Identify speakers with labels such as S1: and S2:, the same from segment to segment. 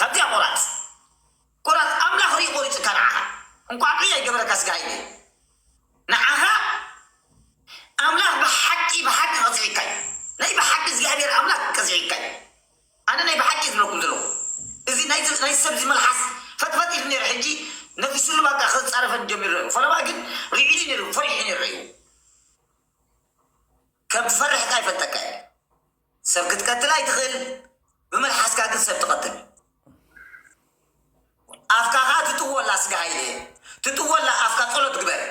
S1: ካብዚኣ ቆራጽ ቆራጽ ኣምላኽ ሪኡ ቆሪጹካ ንዓኻ እንቋዕ ዕይ ኣይገበረካ ስጋ ኣይብልን ንዓኻ ኣምላኽ ብሓቂ ብሓቂ ቀጺዒካ እዩ ናይ ብሓቂ እግዚኣብሄር ኣምላኽ ቀጺዒካ እዩ ኣነ ናይ ብሓቂ እየ ዝብለኩም ዘለኹ እዚ ናይዚ ናይ ሰብ እዚ መልሓስ ፈጥፈጥ ኢሉ ነይሩ ሕጂ ነፊሱሉ ባቃ ክጻረፈኒ ጀሚሩ ነይሩ ፈለማ ግን ሪዒኒ ነይሩ ፈሪሑ ነይሩ ሪኡ ከም ትፈርሕ ካኣ ይፈልጠካ እየ። ሰብ ክትቀትል ኣይትኽእል ብመልሓስካ ግን ሰብ ትቐትል ኣፍካ ኸኣ ትጥወላ ስጋ ሃይለ ትጥወላ ኣፍካ ጸሎት ግበር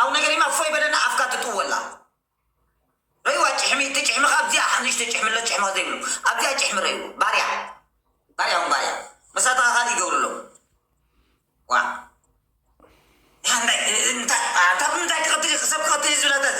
S1: ኣብ ነገሪማ እፎይ በለና ኣፍካ ትጥወላ ረይዋ ጭሕሚ ትጭሕሚ ኸኣ ኣብዚኣ ንእሽቶ ጭሕሚ ኣሎ ጭሕሚ ዘይብሉ ኣብዚኣ ጭሕሚ ረይዎ ባርያ ባርያ ውን ባርያ መሳትኻ ካልእ ይገብሩ ኣለዉ ዋ እንታይ እንታይ እንታይ ክቐትል ሰብ ክቐትል ዝብላታት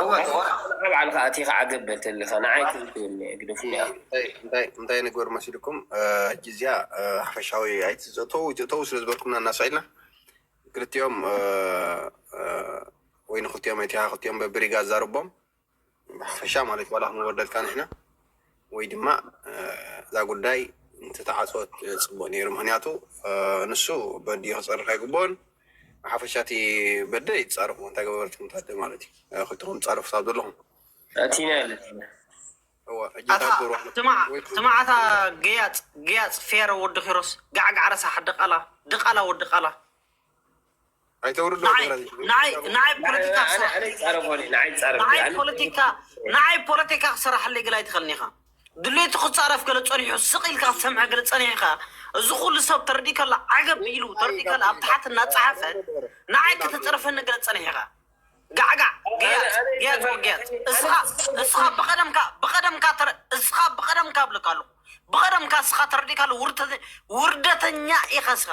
S2: እወ
S1: ተቆራቁርካ
S2: ባዕልካ ኣቲካ ዓገብ በል ተብልካ
S3: ንዓይ ተውትወኒ ኣግደፉኒ ኣክል። እንታይ ንግበር መሲልኩም ሕጂ እዚኣ ሓፈሻዊ ኣይትእተው ኣይትእተው ስለ ዝበልኩምና እና ስዒድና ክልቲኦም ወይ ንክልቲኦም ኣይቲካ ክልቲኦም በብሪጋ ኣዛርቦም ብሓፈሻ ማለት ዋላ ክንወርደልካ ንሕና ወይ ድማ እዛ ጉዳይ እንተተዓፀወት ፅቡቅ ነይሩ ምክንያቱ ንሱ በድዩ ክፀርፍ ኣይግበኦን ብሓፈሻ እቲ በደ ይፃረፉ እንታይ ገበርትኩም ታደ ማለት እዩ ክልትኩም ትፃረፉ ሳብ ዘለኹም ስማዕታ
S4: ገያፅ ገያፅ ፌሮ ወዲ ኪሮስ ጋዕጋዕ ረሳሕ ድቓላ ድቓላ ወዲ ቓላ
S3: ንዓይ
S4: ፖለቲካ ክሰራሕለይ ገለ ኣይትኸልኒኻ ድሌቱ ክፃረፍ ገለ ፀኒሑ ስቕ ኢልካ ክትሰምዐ ገለ ፀኒሕኻ እዚ ኩሉ ሰብ ተረዲኡ ከላ ዓገብ ኢሉ ተረዲኡ ከላ ኣብ ታሕቲ እናፀሓፈ ንዓይ ከተፅርፈኒ ገለ ፀኒሕኻ ጋዕጋዕ ገያፅ ገያፅ ወገያፅ እስኻ እስኻ ብቐደምካ ብቐደምካ ተረ እስኻ ብቐደምካ ብለካ ኣለኹ ብቐደምካ እስኻ ተረዲእካ ኣሎ ውርተ ውርደተኛ ኢኻ እስኻ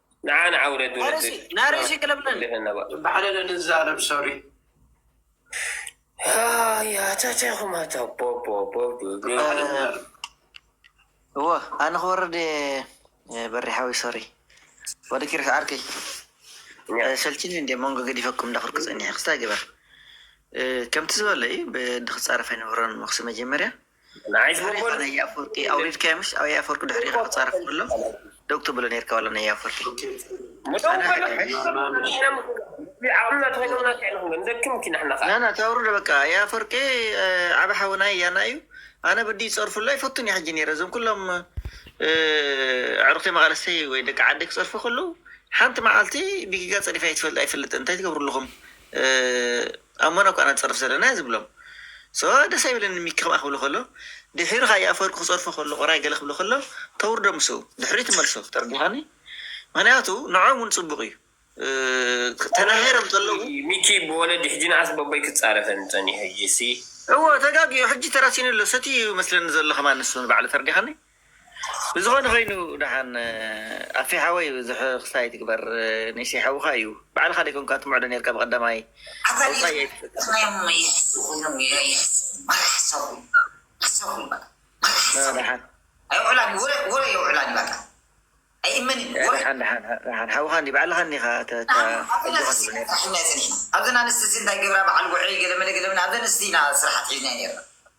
S2: ንዓና
S5: ኣውረድ
S2: ወዲ ናረሲ ክለብለን ባዕለ ንዛረብ ሶሪ ኣያ ተተኹም ኣታ
S6: እወ ኣነ ክወርድ በሪሓዊ ሶሪ ወዲ ኪርስ ዓርከይ ሰልችኒ እንደ መንጎ ገዲፈኩም እንዳኽርኩ ፀኒሐ ክስታይ ግበር ከምቲ ዝበለይ ብድክፃረፍ ኣይነበሮን መክሲ መጀመርያ ንዓይ ዛሬ ዝመበሉ ኻን
S2: ኣያፈወርቂ
S6: ኣውሪድካዮ ምሽ ኣብ ኣያፈወርቂ ድሕሪኻ ክጻረፍ ከሎ ደው ትብሎ ነርካ ዋላ ንኣያፈወርቂ ደው በሉ ዓቕምና ተዋሂቦምና እንታይ ኢና ክንገብር ንደክም እኪ ንሕና ኸኣ ናና ታውርዶ በቃ ኣያፈወርቂ ዓቢ ሓውና ያና እዩ ኣነ ብድዩ ጸርፍሉ ኣይፈቱን እየ ሕጂ ነይረ እዞም ኩሎም እ፣ ኣዕሩኽተይ መቓለሰይ ወይ ደቂ ዓደይ ክጸርፉ ከለዉ ሓንቲ መዓልቲ ብጊጋ ጸሪፈ ኣይትፈልጥ ኣይፈልጥን እንታይ ትገብሩ ኣለኹም እ፣ ኣብ ሞናኮ ኣና ንጸርፍ ዘለና እያ ዝብሎም so ደስ ኣይብለንን ሚኪ ከምኣ ክብሎ ከሎ ዲሒሩ ካኣ ኣፈወርቂ ክጸርፎ ከሎ ቆራይ ገለ ክብሎ ከሎ ተውርዶ ምስኡ ድሕሪኡ ትመልሶ ተርዲካኒ ምክንያቱ ንዖኦም ውን ጽቡቅ እዩ ተናሂሮም ከለዉ ሚኪ ብወለዲ
S2: ሕጂ ንኣስ በቦይ ክጻረፈኒ ጸኒሑ ሕጂሲ። እወ ተጋጊዩ
S6: ሕጂ ተራሲኑ ኣሎ ሰትዩ እዩ መስለኒ ዘሎ ከማን ንሱ ንባዕሉ ተርዲካኒ። ብዝኮነ ኮይኑ ዳሓን ኣፌ ሓወይ ብዙሕ ክስ ኣይትግበር ኒሲ ሓውካ እዩ ባዕልካ ደይኮንካ ትምዕዶ ነርካ ብቀዳማይ ኣውጻይ
S1: ኣይትፍትንዮ።